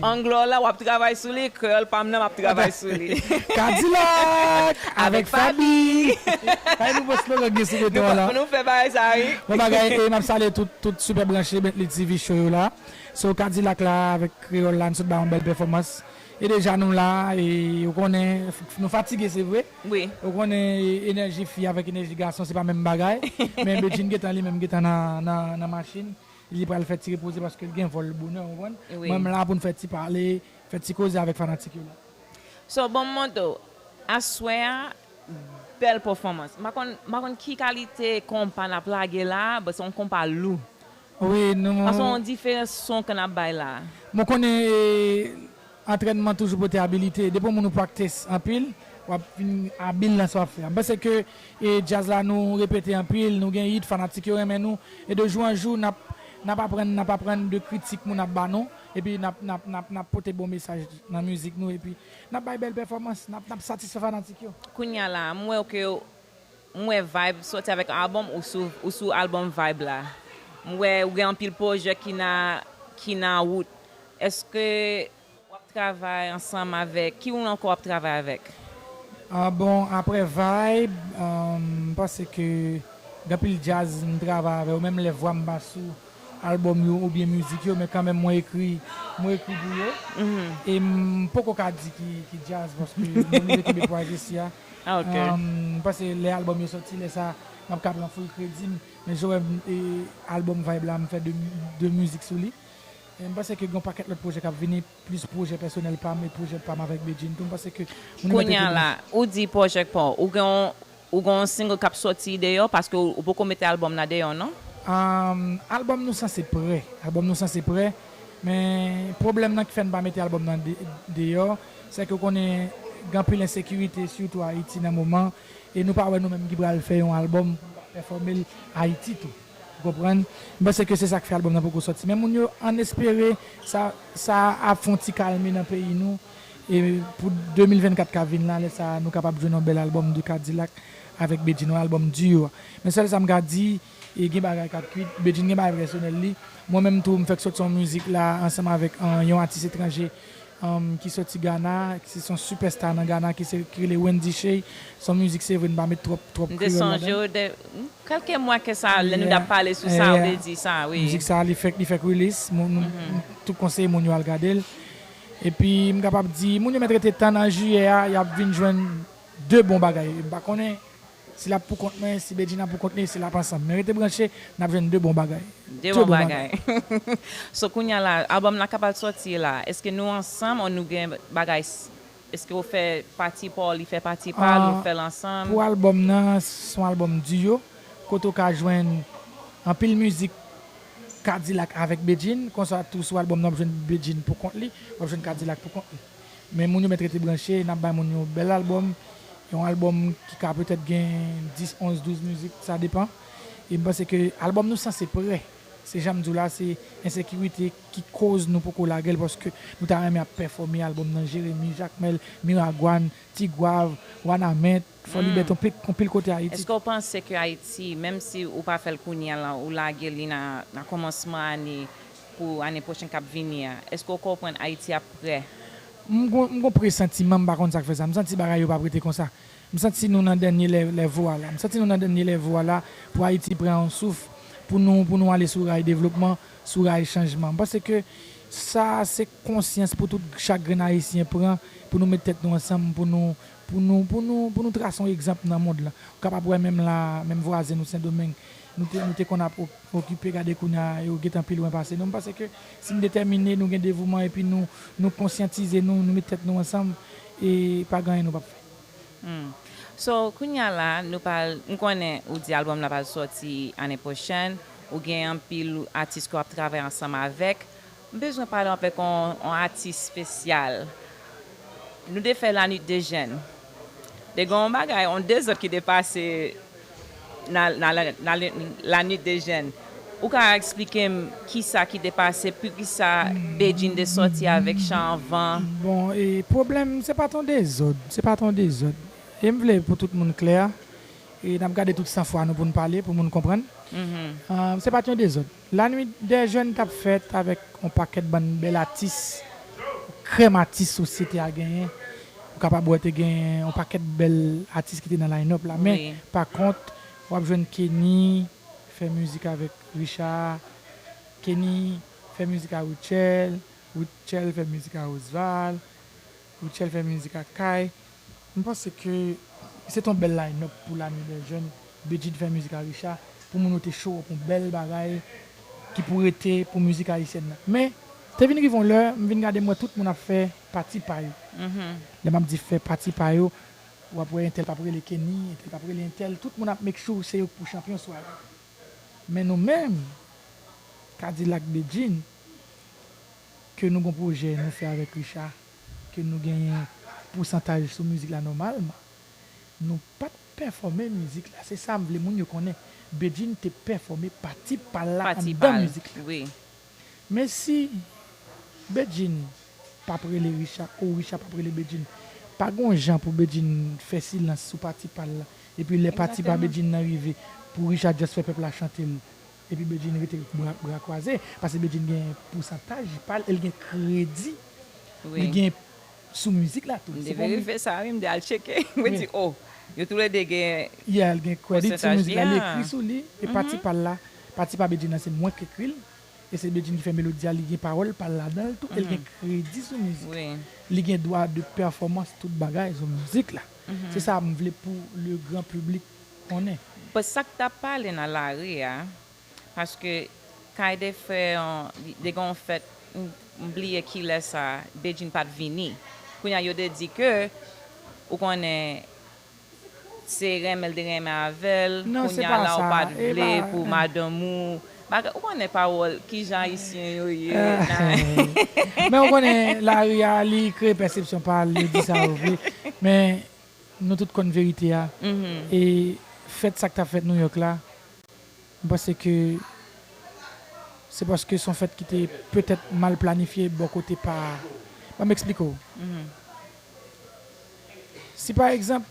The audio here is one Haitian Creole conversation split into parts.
Anglè w la w ap travay sou li, kreyòl pa m nan m ap travay sou li. Kadilak avèk Faby! Kay nouvo slogan gen sou beton an la. Nou fè bagay sa wi. Bon bagay e map salye tout tout super branche Bentley TV show yo la so kadilak la avèk kreyòl la nou sot ba yon bèl pèfòmans e deja nou la e ou konnen nou fatige se vre ou konnen enèji fi avèk enèji gason se pa menm bagay men Bedjine gentan li menm gentan nan nan machin Li pral fè ti repoze paske l gen vòl bonè ou konprann. Mwen m la pou n fè ti pale, fè ti koze avèk fanatik yo la. So bon Modo, aswè a bèl pòfòmans. M pa konn m pa konn ki kalite konpa n ap lage la a but se yon konpa lou. Wi nou. Paske yon diferans son ke n ap bay la a. Mwen konnen e. Antrènman toujou pote abilite. Depi yon moun ou practice anpil, wap vin abil nan sa wap fè a. M panse ke djaz la nou repete anpil, nou gen hit, fanatik yo renmen nou, e de jou an jou nap nap aprann nap aprann de kritik moun ap ba nou, epi nap nap nap nap pote bon mesaj nan mizik nou epi nap bay bèl pèfòmans, nap nap satisfè fanatik yo. Kounya la a, m wèw ke M wè vibe soti avèk album ou sou ou sou album vibe la m wè ou gen anpil pwojè ki na ki na wout eske wap travay ansanm avèk ki oun ankò wap travay avèk? Ah bon aprè vibe m panse ke gen anpil djaz m travay avè yo menm lè vwa m pa sou album yo oubyen mizik yo men kanmenm mwen ekri mwen ekri pou yo e m poko ka di ki ki djaz paske m oblije kenbe pwa jessi a. M panse lè album yo soti lè sa map ka pran full kredi m men Joe M e album vibe la m fè 2 mizik sou li e m panse ke gen yon pakèt lòt pwojè kap vini plis pwojè pèsonèl pam e pwojè pam avèk Bedjine tou m panse ke moun yo mèt Kounya la ou di pwojèk pa w ou gen yon ou gen yon single kap soti deyò paske ou poko mete album la deyò non? Ahm album nou sanse prè album nou sanse prè men pwoblèm nan ki fè n pa mete album nan deyò. Sèke ou konnen gen anpil ensekirite sitou Ayiti nan moman e nou pa wè nou menm ki pral fè yon albòm pou nou pa pèfòme l Ayiti tou. Ou konprann? M panse ke se sa k fè albòm nan poko sòti. Men moun yo ann espere sa sa a ap fè yon ti kalme nan peyi nou e pou 2024 k ap vin la lè sa a nou kapab jwenn yon bèl albòm de Kadilak avèk Bedjine, yon albòm duo. Men sèl sa m ka di. E gen bagay kap kwit. Bedjine gen bagay pèsonèl li. Mwen menm tou m fèk sòti yon mizik la ansanm avèk yon atis etranje ki sòti Gana, se son sipè sta nan Gana ki se ki rele Wendy Shay. Se yon mizik se vre n pa met twòp twòp kreyòl ladan l. M te sonje w kèlke mwa ke sa lè nou t ap pale sou sa ou te di sa wi. Mizik sa li fèk li fèk rilis. M tou konseye moun yo al gade l. Epi m kapab di moun yo mèt rete tann an jiyè a y ap vin jwenn 2 bon bagay. M pa konnen Si lap pou kont mwen si bedjina pou kont li si lap ansanm men rete branche nap jwenn 2 bon bagay 2 bon bagay so kounya la album la kapab sòti la eske nou ansanm or nou gen bagay eske ou fè pati paw li fè pati pal nou fèl ansanm. Pou album nan son album duo kote ou ka jwenn anpil mizik kadilak avèk bedjine konsa tou sou album nan wap jwenn bedjine pou kont li wap jwenn kadilak pou kont li Men moun yo mèt rete branche, nap bay moun yon bèl album, yon album ki ka petèt gen 10, 11, 12 mizik, sa depan. E m panse ke album nou sanse prè. Se janm diw la, se ensekirite ki koz nou poko lagel paske nou ta renmen ap pèfome album nan Jeremi, Jakmèl, Miragwàn, Tigwav, Wanament. Fò li bèt on pil kote Ayiti. Eske w panse ke Ayiti, menm si ou pa fè l kounye a la, ou lage li nan kòmansman ane pou ane pwochen k ap vini a, eske w konprann Ayiti ap prè? M gon presantiman, m pa konn sa k fè sa, m santi bagay yo p ap rete konsa. M santi nou nan dènye lèvo a la. M santi nou nan dènye lèvo a la pou Ayiti pran on souf, pou nou ale sou ray devlopman, sou ray chanjman. M panse ke sa a se konsyans pou tout chak grenn Ayisyen pran, pou nou met tèt nou ansanm, pou nou Pou nou pou nou pou nou trase yon egzanp nan mond lan. Ou kapab wè menm la a, menm vwazen nou Sendomeng, nou te nou te konn ap okipe gade kounye a yo gentan pi lwen pase nou. M panse ke si n detèmine, nou gen devouman epi nou nou konsyantize nou, nou met tèt nou ansanm, e pa gen anyen nou pap fè. Hum. So, kounye a la a, nou pral, m konnen ou di albòm la pral sòti ane pwochèn, ou gen anpil atis ke w ap travay ansanm avèk, M bezwen pale anvek on atis spesyal nou de fè la nuit de jèn de gen on bagay on dezod ki de pase nan la nuit de jèn ou ka esplikem kisa ki de pase pukisa Bedjine de soti avek chan anvan. Bon e pwoblèm se pat on dezod se pat on dezod em vle pou tout moun klè e nap gade tout san fwa nou poun pale pou moun konprann se pat yon dezod. La nuit des jeunes tap fèt avèk yon pakèt bann bèl atis, krèm atis sosyete a genyen, ou kapab wè te gen yon pakèt bèl atis ki te nan line up la men pa kont wap jwenn Kenny fè mizik avèk Richard, Kenny fè mizik a Rutshelle, Rutshelle fè mizik a Osval, Rutshelle fè mizik ak Kay. M panse ke se t on bèl line up pou lane dè jèn. Bedjine fè mizik ak Richard pou moun yo te show up on bèl bagay ki pou rete pou mizik ayisyèn nan. Men, te vin rive on lè, m vin gade m wè tout moun ap fè pati pa yo. Lè m ap di fè pati pa yo, w ap wè entèl p ap rele Kenny, entèl p ap rele entèl, tout moun ap make sure se yo k pou chanpyon sware a. Men nou menm, K-dilak, Bedjine, Ke nou gon pwojè nou fè avèk Richard, ke nou genyen pousantaj sou mizik la nòmalman nou pat pèfòme mizik la se sam vle moun yo konnen Bedjine te pèfòme pati pal la anndan mizik la men si Bedjine pap rele Richard ou Richard pap rele Bedjine pa gon jan pou Bedjine fè silans sou pati pal la epi lè pati pa Bedjine nan rive pou Richard just fè pèp la chantel Epi Bedjine rete bra kwaze, pase Bedjine gen pousantaj pal el gen kredi li gen sou mizik la tou. M te verife sa wi m te al tcheke mwen di oh yo tou le 2 gen Yeah li gen credit sou mizik la li ekri sou li e pati pal la pati pa Bedjine la se mwen k ekri l e se Bedjine ki fè melodi a li gen pawòl pal ladan l tou el gen kredi sou mizik la li gen dwa de pèfòmans tout bagay sou mizik la se sa m vle pou le gran piblik konnen. Bon sak tap pale nan lari a paske kay de fè de gen yon fèt m bliye kilè sa Bedjine pat vini kounya yo de di ke ou konnen se renmen l te renmen avèl kounya la ou pat vle pou madanm ou bagay ou konnen pawòl kijan ayisyen yo ye nan men ou konnen lari a li kreye pèsepsyon pa l yo di sa yo vle men. Nou tout konn verite a e fèt sa k t ap fèt Nouyòk la, m panse ke se paske s on fèt ki te petèt mal planifye bò kote pa Ban m eksplike w Si pa egzanp,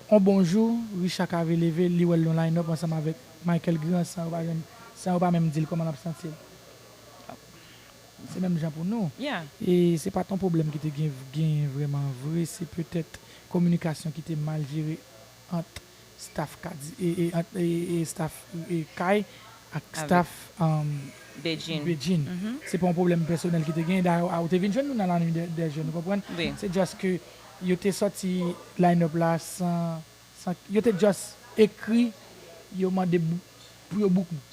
on bon jou, Richa Cavé leve, li wè l nan line up ansanm avèk Michael Grand san yo pa menm di l kòman l ap santi l. Se menm jan pou nou. E se pa t yon pwoblèm ki te genyen vrèman vre, se petèt kominikasyon ki te mal jere ant staf staf kay ak staf Bedjine. Se pa yon pwoblèm pèsonèl ki te genyen. Dayè ou te vin jwenn nou nan La Nuit des Jeunes, ou konprann? Se just ke yo te sòti line up la san, san, yo te just ekri, yo mande pou yo book nou.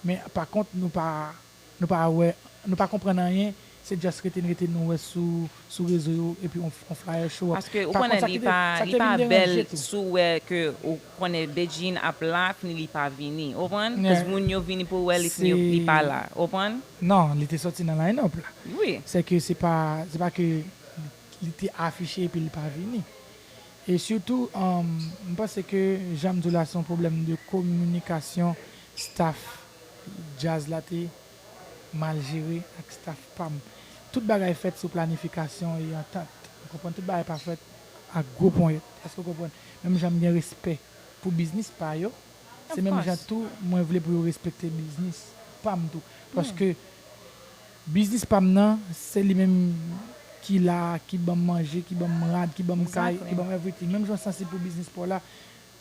Men pa kont nou pa. Nou pa wè Nou pa konprann anyen se just rete n rete n nou wè sou sou rezo yo epi on on flyer show up Paske ou pa konn konnen sa li ki te pa sa ki li te pa vin bèl deranje tou. si w wè ke ou konnen Bedjine ap la kni li pa vini ou konprann cuz moun yo vini pou wè li kni yo li pa la ou konprann. Non li te sòti nan line up la Wi. se ke se pa se pa ke li te afiche epi li pa vini e sitou m panse ke jan m di w la se yon pwoblèm de kominikasyon staff Djaz la te mal jere ak staff pa m. Tout bagay fèt sou planifikasyon e antant. Ou konprann? Tout bagay pa fèt ak gwo ponyèt. Èske ou konprann? Menm jan m gen respè pou biznis pa yo, se menm jan tou mwen vle pou yo respekte biznis pa m tou. Paske biznis pa m nan, se li menm ki la a, ki ban m manje, ki ban m rad, ki ban m kay, ki ban m everything. Menm jan w sansib pou biznis pa w la,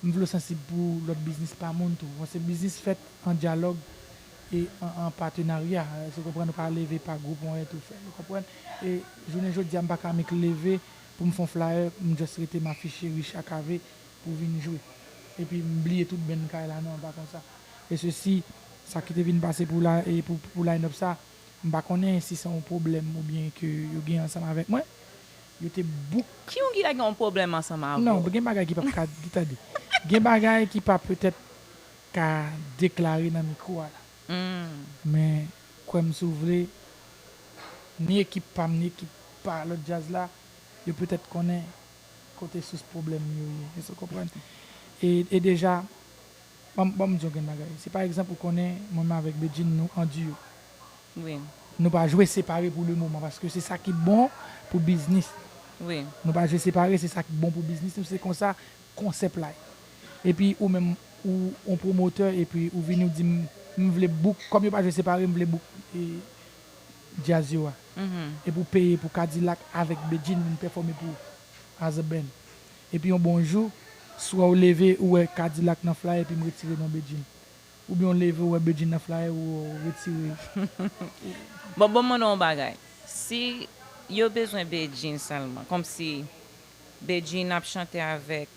M vle w sansib pou lòt biznis pa moun tou. Bon se biznis fèt an dyalòg e an patenarya. Èske w konprann? Ou ka leve pa gwoup ou anyen tou fè l. Ou konprann? E jounen jodi a m pa ka annik leve pou m fè yon flayè, m just rete m afiche Richard Cavé pou vin jwe. Epi m bliye tout band kay la. Non, pa konsa. E sesi, sa ki te vin pase pou la e pou line-up sa, m pa konnen si se yon pwoblèm oubyen ke yo gen ansanm avèk mwen. Yo te bouk. Ki yon ki ta gen yon pwoblèm ansanm avè w? Non, gen bagay ki pap ka di, tande, gen bagay ki pa petèt ka deklare nan mikwo a la. Men, kwè m si w vle, ni ekip pa m ni ekip pa lòt djaz la, yo petèt konnen kote sous pwoblèm yo ye. Èske w konprann? E, e deja, ban m, ban m di w yon grenn bagay. Si pa egzanp ou konnen mwen menm avèk Bedjine nou an duo. Wi. Nou pa jwe separe pou le moman paske se sa ki bon pou biznis nou. Wi. Nou pa jwe separe se sa ki bon pou biznis nou se konsa konsèp la ye. Epi ou menm ou on pwomotè epi ou vini ou di m m vle bouk kòm yo pa jwe separe m vle bouk djaz yo a. Epi ou peye pou Kadilak avèk Bedjine vin pèfòme pou ou as a band. Epi on bon jou swa ou leve ou wè Kadilak nan flyer epi m retire non Bedjine. Ou byen ou leve ou wè bedjine nan flyer ou retire. Bon bon mande w yon bagay si yo bezwen Bedjine sèlman kòmsi Bedjine ap chante avèk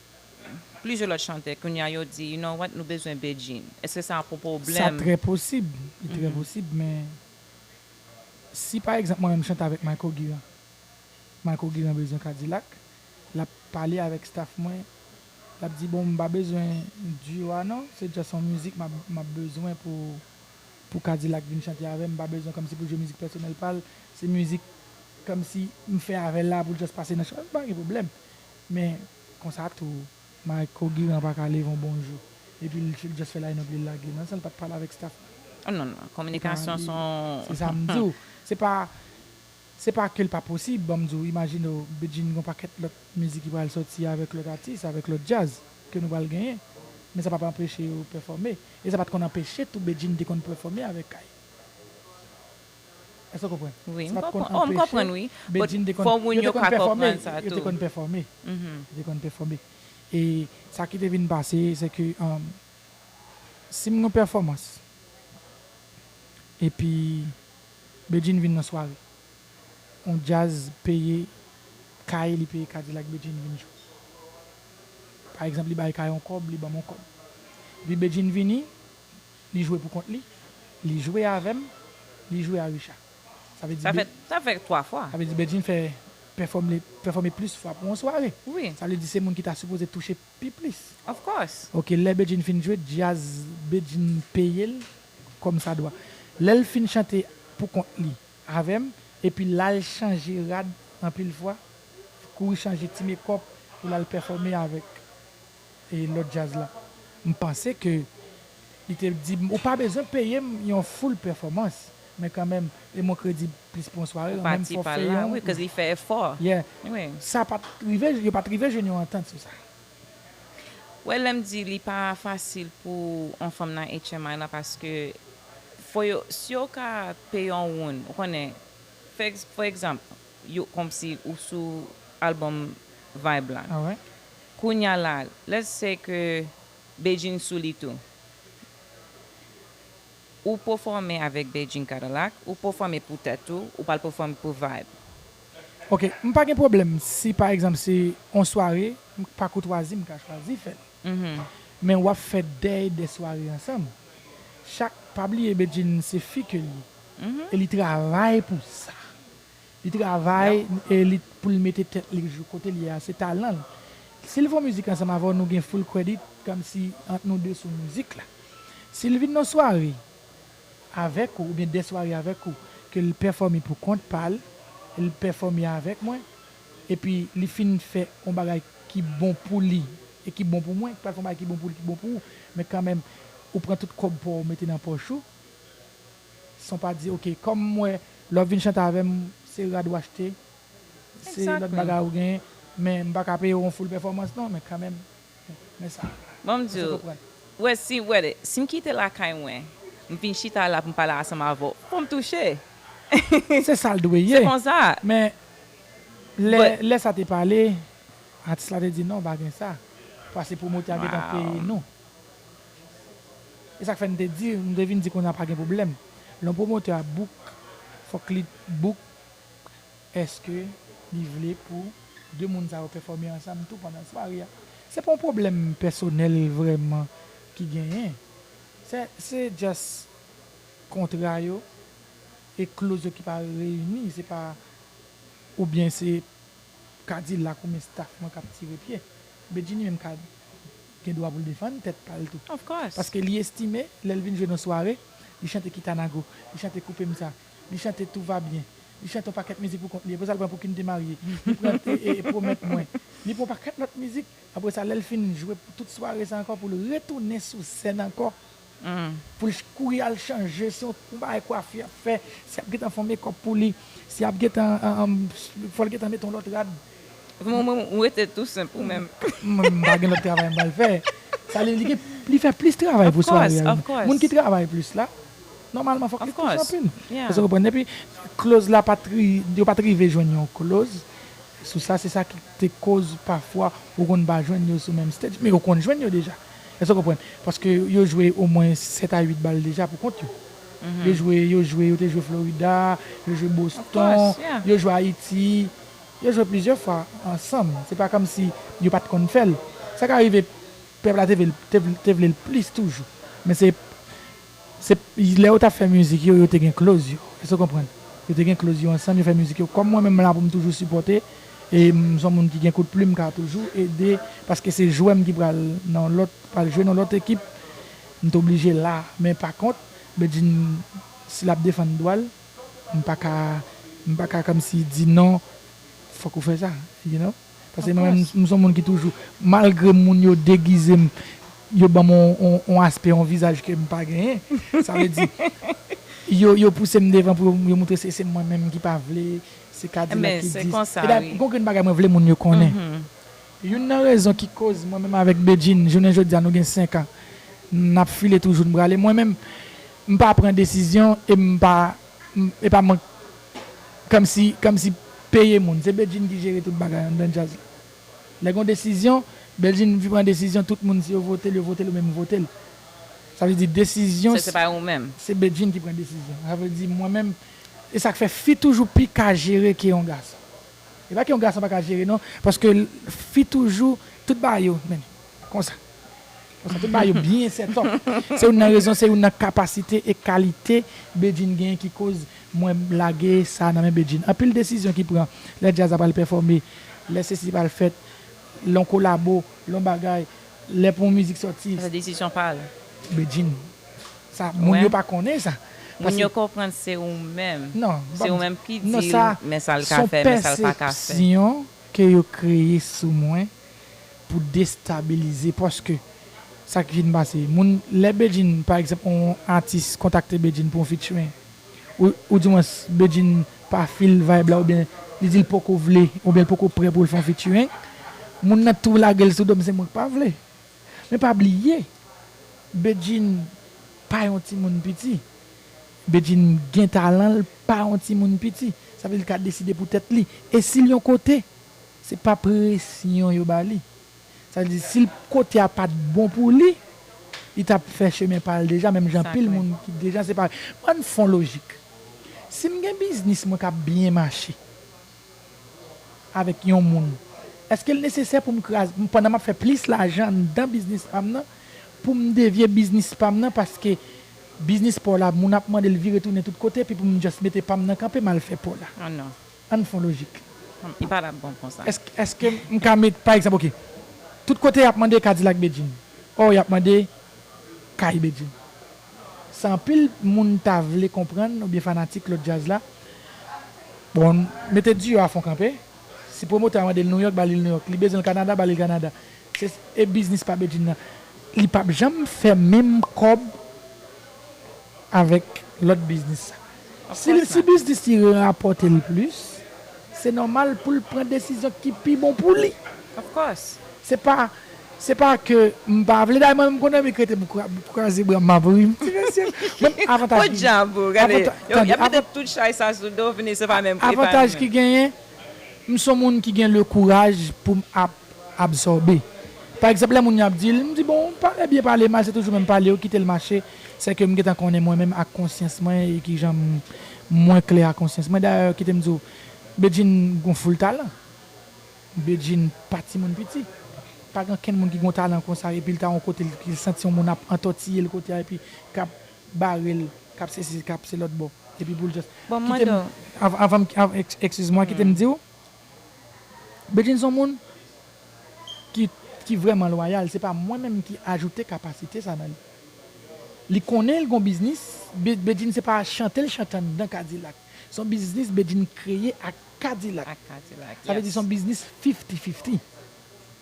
plizyè lòt chantè kounye a yo di you know what nou bezwen Bedjine èske sa ap yon Sa pwoblèm? trè posib, li trè posib men si pa egzanp mwen menm m chante avèk Mayko Giran, Mayko Giran bezwen Kadilak Lap pale avek staff mwen lap di bon mpa bezwen duo a non se just yon mizik map bezwen pou pou kadilak vin chante avem mpa bezwen komsi poul jwe mizik pèsonel pal se mizik komsi mfè avèl la poul just pase nan show mpa gen pwoblèm men konsa tou Mayko Giran paka leve yon bon jou epil just fè line up li lage nan sanl pat pale avek staff nan. Oh non non kominikasyon son. Se sa m di w se pa. Se pa ke l pa posib, banm di w imajine w Bedjine gen yon pakèt lòt mizik ki pral sòti avèk lòt atis, avèk lòt djaz ke nou pral genyen, men sa pap anpeche yo pèfòme. E sa pat konn anpeche tou Bedjine te konn pèfòme avèk Kay. Èske w konprann? Wi, m konprann. Oh, m konprann wi. But fò moun yo ka konprann sa tou. Yo te konn pèfòme. Yo te konn pèfòme. E sa ki te vin pase se ke si m gen yon pèfòmans epi Bedjine vin nan sware. On djazz peye Kaye li peye Kadilak Bedjine vin jwe. Pa egzanp li bay Kaye on kòb li banm on kòb. Epi Bedjine vini li jwe pou kont li, li jwe avè m, li jwe a Richard. Sa vle di Sa fè 3 fwa. Sa vle di Bedjine fè pèfòme pèfòme plis fwa pou on sware. Sa vle di se moun ki ta sipoze touche Pi plis. Of course. Ok lè Bedjine fin jwe djazz Bedjine peyel kòm sa dwa lèl fin chante pou kont li avèm epi lal chanje rad anpil fwa kouri chanje ti mekòp pou lal pèfòme avèk lòt djazz la mpanse ke Li te di m, Ou pa bezwen peye m yon full pèfòmans, men kanmenm, e m on kredi plis pou yon sware, an menm fòfe yon Yeah. Sa pa t rive, yo pa t rive jwenn yon antant sou sa. Ou wè lè m di li pa fasil pou on fanm nan HMI la paske fò yo, si yo ka peye on woun, ou konnen, fè fò egzanp, yo kòmsi ou sou albòm Vibe la. Kounya la, let's say ke. Bedjine sou li tou. Ou pefome avek Bedjine Kadilak, ou pefome pou tet ou, ou pral pefome pou Vibe. Ok, m pa gen pwoblèm si pa egzanp se on sware m pa koutwazi m ka chwazi fè l. Men wap fè dèy de sware ansanm. Chak, pa bliye Bedjine se fi ke l ye e li travay pou sa. Li travay e li poul mete tèt li jou kote l ye a se talan l. Si l fon mizik ansanm avè w nou gen full credit kòmsi ant nou 2 sou mizik la. Si l vin nan sware avèk ou oubyen 2 sware avèk ou ke l pèfòme pou kont pa l, l pèfòme avèk mwen epi li fin fè on bagay ki bon pou li e ki bon pou mwen, ki pral fon bagay ki bon pou li ki bon pou ou men kanmenm ou pran tout kòb pa w mete nan pòch ou. San pa di ok kòm m wè lè w vin chante avè m se rad w achte, se lòt bagay ou gen men m pa ka peye w yon full pèfòmans non men kanmenm men sa Bon m di w, wè si wè de si m kite lakay mwen m vin chita la pou m pale ansanm avè w fò m touche Se sa l dwe ye. Se konsa. Men lè lè sa te pale atis la te di non pa gen sa pase pwomotè a gentan peye nou. E sak fè m te di, m te vin di konnya pa gen pwoblèm. Lè yon pwomotè ap book, fòk li book eske li vle pou 2 moun sa yo pèfòme ansanm tou pandan sware a. Se pa yon pwoblèm pèsonèl vrèman ki genyen. Se se just kontra yo e kloz yo ki pa reyini. Se pa oubyen se K-dilak oubyen staff mwen k ap tire pye. Bedjine menm ka gen dwa pou l defann tèt pa l tou. Paske li estime lè l vin jwe nan sware, li chante Kitanago, li chante Koupe m sa, li chante Tout va bien, li chante yon pakèt mizik pou kont li. Apre sa l pran Pou kin te marye, li pran Pwomèt mwen, li pran yon pakèt lòt mizik. Apre sa lè l fin jwe pou tout sware sa ankò pou l retounen sou sèn ankò Pou l kouri al chanje, se yon bagay kwafi y ap fè, si y ap gentan fè yon mekòp pou li, si y ap gentan, fò l gentan mete yon lòt rad. Mwen menm, ou rete tou senp ou menm. Mwen m pa gen lòt travay m pral fè. Sa vle di li gen, li fè plis travay pou sware a. Moun ki travay plis la, nòmalman fòk li touche anpil. Èske w konprann? Epi, kloz la pa t, yo pa t rive jwenn yon kloz sou sa. Se sa ki te koz pafwa ou konn pa jwenn yo sou menm stage. Men yo konn jwenn yo deja. Èske w konprann? Paske yo jwe omwen 7 a 8 bal deja pou kont yo. Yo jwe, yo jwe, yo te jwe Florida, yo jwe Boston, yo jwe Ayiti, yo jwe plizyè fwa ansanm. Se pa kòmsi yo pa t konn fè l. Sa ka rive pèp la te vle l plis toujou. Men se Se lè yo tap fè mizik yo, yo te gen cloz yo. Èske w konprann? Yo te gen cloz yo ansanm, yo fè mizik yo. Kòm mwen menm m la pou m toujou sipòte e m son moun ki gen kout plim m ka toujou ede paske se jwè m ki pral nan yon lòt ki pral jwe nan yon lòt ekip m t oblije la. Men pa kont Bedjine si lap defann dwa l m pa ka m pa ka kòmsi di non fòk ou fè sa you know. Paske mwen menm m son moun ki toujou malgre moun yo degize m yo banm on aspè on vizaj ke m pa genyen sa vle di yo pouse m devan pou yo moutre se mwen menm ki pa vle se kadilak ki di sa gon grenn bagay mwen vle moun yo konnen youn nan rezon ki koz mwen menm avèk Bedjine jounen jodia nou gen 5 an n ap file toujou n prale mwen menm m pa pran desizyon e m pa Epa mank Kamsi Kamsi peye moun se Bedjine ki jere tout bagay anndan djaz la lè gon desizyon Bedjine vin pran desizyon tout moun si yo votel yo votel oubyen m votel sa vle di desizyon Se se pa ou menm. se Bedjine ki pran desizyon sa vle di mwen menm esak fè fi toujou pi ka jere ke yon gason epa ke yon gason paka jere non paske fi toujou tout bagay yo men. Konsa. Konsa tout bagay yo byen sètòp. Se youn nan rezon, se youn nan kapasite e kalite Bedjine genyen ki koz mwen lage sa nan men Bedjine. Anpil desizyon ki pran lè djaz la pral pèfòme, lè sesi pral fèt, lè yon kolabo, lè yon bagay, lè pou yon mizik sòti. Sa se desizyon pa l. Bedjine. Sa moun yo pa konnen sa. Moun yo konprann se ou menm. Non. Se ou menm ki di l men sa l ka fè, men sa l pa ka fè. Non sa son pèsepsyon ke yo kreye sou mwen. pou destabilize paske sa ki fin pase moun lè Bedjine pa egzanp yon atis kontakte Bedjine pou yon featuring ou ou di mwens Bedjine pa feel vibe la oubyen li di l poko vle oubyen l poko prè pou l fè yon featuring moun nan tou lage l sou do m se mwen k pa vle men pa bliye Bedjine pa yon timoun piti Bedjine gen talan l pa yon timoun piti sa vle di l ka deside pou tèt li e si l yon kote. Se pa presyon yo ba li. Sa vle di, si kote a pa t bon pou li, li t ap fè chemen pa l deja, menm jan anpil moun ki deja separe. An n fon lojik. Si m gen biznis mwen k ap byen mache avèk yon moun, èske l nesesè pou m kraze, pandan m ap fè plis lajan anndan biznis pa m nan, pou m devye biznis pa m nan paske biznis pa w la moun ap mande l vire tounen tout kote epi pou m just mete pa m nan kanpe m al fè pa w la? An non. Ann fon lojik. Li pa tap bon konsa. Eske m ka met pa egzanp ok. Tout kote yap mande kadilak Bedjine or yap mande kay Bedjine. Sa anpil moun ta vle konprann oubyen fanatik lòt djaz la, bon mete duo a fon kanpe, si pwomotè a mande l Nouyòk ba li l Nouyòk, li bezwen l Kanada ba li l Kanada. Se e biznis pa Bedjine nan. Li pap janm fè menm kòb. avèk lòt biznis sa. Si li si biznis li rapòte l plis, se nòmal pou l pran desizyon ki pi bon pou li. Se pa se pa ke m pa vle dayè mwen menm konn anvi krete m kraze bra m m ap ri m ti mesye men avantaj ki avantaj ki genyen m son moun ki gen le kouraj pou m ap absòbe. Pa egzanp lè moun yo ap di l, m di bon, pale byen pale mal se toujou menm pale yo kite l mache, se ke m gentan konnen mwen menm ak konsyans mwen e kijan m mwen klè ak konsyans mwen dayè kite m di w Bedjine gon foul talan, Bedjine pa timoun piti, pa gen ankenn moun ki gon talan konsa epi l ta yon kote l ki l santi yon moun ap antòtiye l kote a epi k ap bare l k ap sesi k ap se lòtbò epi pou l just Bon m kite m mande w. avan m eskiz mwa kite m di w. Bedjine son moun ki ki vrèman lwayal se pa mwen menm ki ajoute kapasite sa nan li. Li konnen li gon biznis, Bedjine se pa chantel chante anndan kadilak. Son biznis Bedjine kreye ak kadilak. Sa vle di son biznis fifti fifti.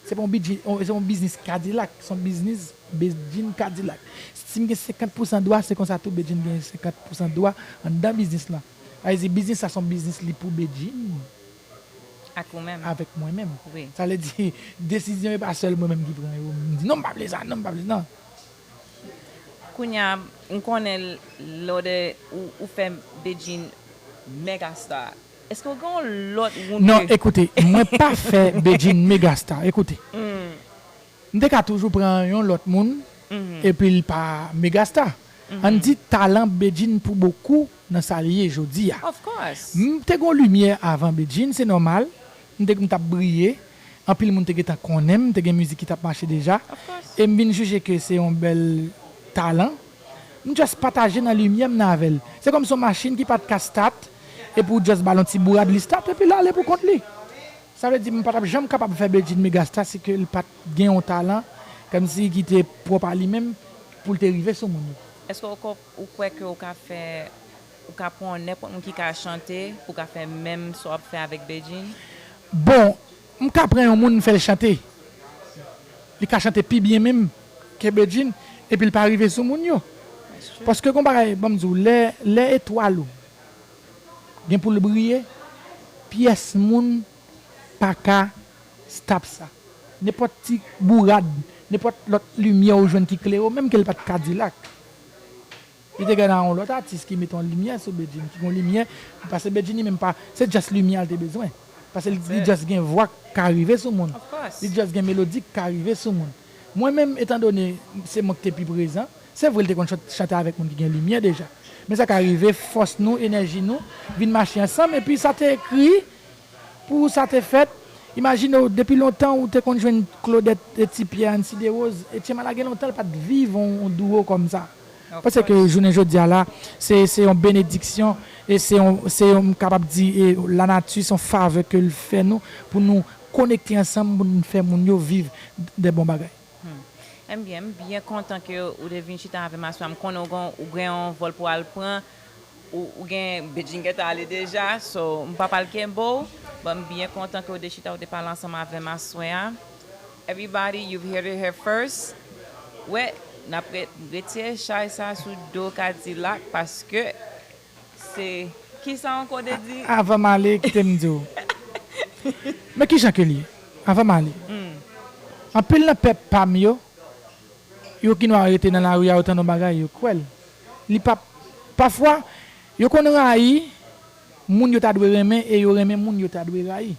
Se pa yon biznis Kadilak, se yon biznis Bedjine Kadilak. Si m gen 50 pousan dwa, se konsa tou Bedjine gen 50 pousan dwa anndan biznis lan. Sa vle di biznis la se yon biznis li pou Bedjine avèk mwen menm. Sa vle di desizyon yo pa sèl mwen menm ki pran yo, m di non m pa vle sa, non m pa vle sa. Kounya m konnen lode ou fè Bedjine mega star. Eske w gen yon lòt woun ke. Non ekoute mwen pa fè Bedjine mega star ekoute m te ka toujou pran yon lòt moun epi l pa mega star ann di talan Bedjine pou bokou nan sa l ye jodi a m te gon limyè avan Bedjine se nòmal m te m t ap briye anpil moun te gentan konnen m te gen mizik ki t ap mache deja e m vin jije ke se yon bèl talan M just pataje nan limyè m nan avè l. Se kòmsi yon machin ki pa t ka stat epi w just ba l yon ti bourad li stat epi l ale pou kont li. Sa vle di m pa t ap janm kapab fè Bedjine megasta si ke l pa t gen yon talan kòmsi ki te pwòp a li menm pou l te rive sou moun yo. Eske w konp, ou kwè ke w ka fè, ou ka pran yon nenpòt moun ki ka chante pou w ka fè menm sa w ap fè avèk Bedjine? Bon, M ka pran yon moun m fè l chante, li ka chante pi byen menm ke Bedjine epi l pa rive sou moun yo. Paske gon bagay banm di w, lè lè etwal ou gen pou l briye, pyès moun pa ka stop sa. Nenpòt ti bourad, nenpòt lòt limyè ou jwenn ki klere w menm ke l pa t kadilak. Li te gen nan yon lòt atis ki mete yon limyè sou Bedjine ki gen yon limyè li pase Bedjine li menm pa se just limyè li te bezwen pase li just gen vwa k ka rive sou moun li just gen melodi k ka rive sou moun mwen menm etan done se mwen k te pi prezan se vre li te konn chante avèk moun ki gen limyè deja men sa ka rive fòs nou enèji nou vin mache ansanm epi sa te ekri pou sa te fèt imajine w depi lontan ou te konn jwenn Claudette et Ti Pyè Ann Sidewoz Etyen Mala gen lontan l pa t viv yon duo kòm sa. Panse ke jounen jodi a la, se se yon benediksyon, e se yon, se yon, m kapab di e lanati se yon favè ke l fè nou, pou nou konekte ansanm, pou nou fè moun yo viv de bon bagay. Hum. Enbyen, m byen kontan ke ou te vin chita avè m aswè a. M konnen ou gen, ou gen yon vòl pou w al pran, ou, ou gen, Bedjine gentan ale deja, so m p ap al kenbe w, but m byen kontan ke ou te chita, ou te pale ansanm avè m aswè a. Everybody you've heard it here first wè nap retire chay sa sou do kadilak paske se kisa ankò de di. Avan m ale kite m di w men kijan ke l ye avan m ale anpil nan pèp pa m yo yo ki nwa rete nan lari a yo tande yon bagay yo kwè l li pap pafwa yo konn rayi moun yo ta dwe renmen e yo renmen moun yo ta dwe rayi.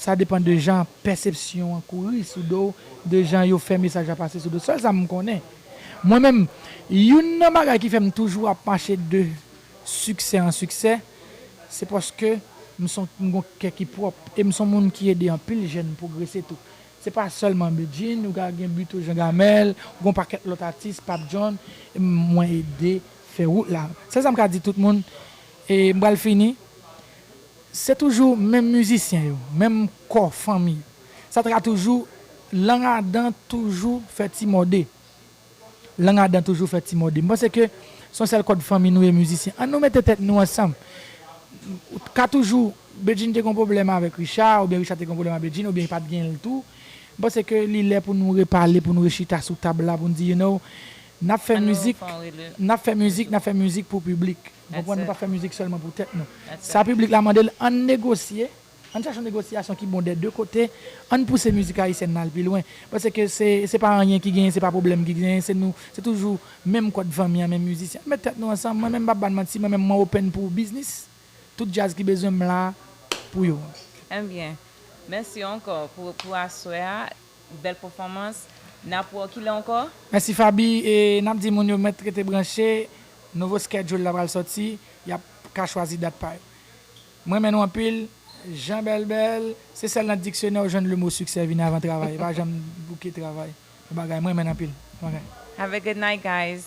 Sa depan de jan pèsepsyon an kouri sou do w, de jan yo fè mesaj la pase sou do w. Sèl sa m konnen, mwen menm, youn nan bagay ki fè m toujou ap mache de siksè an siksè, se paske m son m gon kè ki pwòp e m son moun ki ede anpil jèn pwogrese tou. Se pa sèlman Bedjine, ou ka gen Buteau Jean Gamel, ou gon pakèt lòt atis, Pape John, mwen ede fè wout la. Sèl sa m ka di tout moun, e m pral fini, Se toujou menm mizisyen yo, menm kò fanmi yo. Sa tra toujou Lang a dan toujou fè ti mòde. Lang a dan toujou fè ti mòde. M panse ke s on sèl kòd fanmi nou ye mizisyen. An nou mete tèt nou ansanm. Ou t ka toujou Bedjine te gen yon pwoblèm avèk Richard oubyen Richard te gen yon pwoblèm ak Bedjine oubyen pa t gen l tou. M panse ke li lè pou nou repale, pou nou rechita sou tab la pou n di you know n ap fè mizik, n ap fè mizik, n ap fè mizik pou piblik. Nou konprann nou pa fè mizik sèlman pou tèt nou. Sa piblik la mande l, ann negosye, ann chèche yon negosyasyon ki bon dè de kote, ann pouse mizik ayisyèn nan al pi lwen. Paske se se pa anyen ki genyen, se pa pwoblèm ki genyen, se nou, se toujou menm kòd vanmi an, menm mizisyen. Ann met tèt nou ansanm, mwen menm m pap ba n manti, mwen menm mwen open pou biznis, tout djaz ki bezwen m la pou yo. Enbyen, mèsi ankò pou aswè a. Bel pefomans nap wè w kilè ankò. Mèsi Faby e nap di moun yo mèt rete branche nouvo schedule la pral sòti yap ka chwazi dat pa yo m renmen nou anpil Jean Bèlbèl se sèl nan diksyonè ou jwenn le mo succès vini avan travay li pa janm bouke travay bon bagay m renmen n anpil bon bagay. Have a good night guys.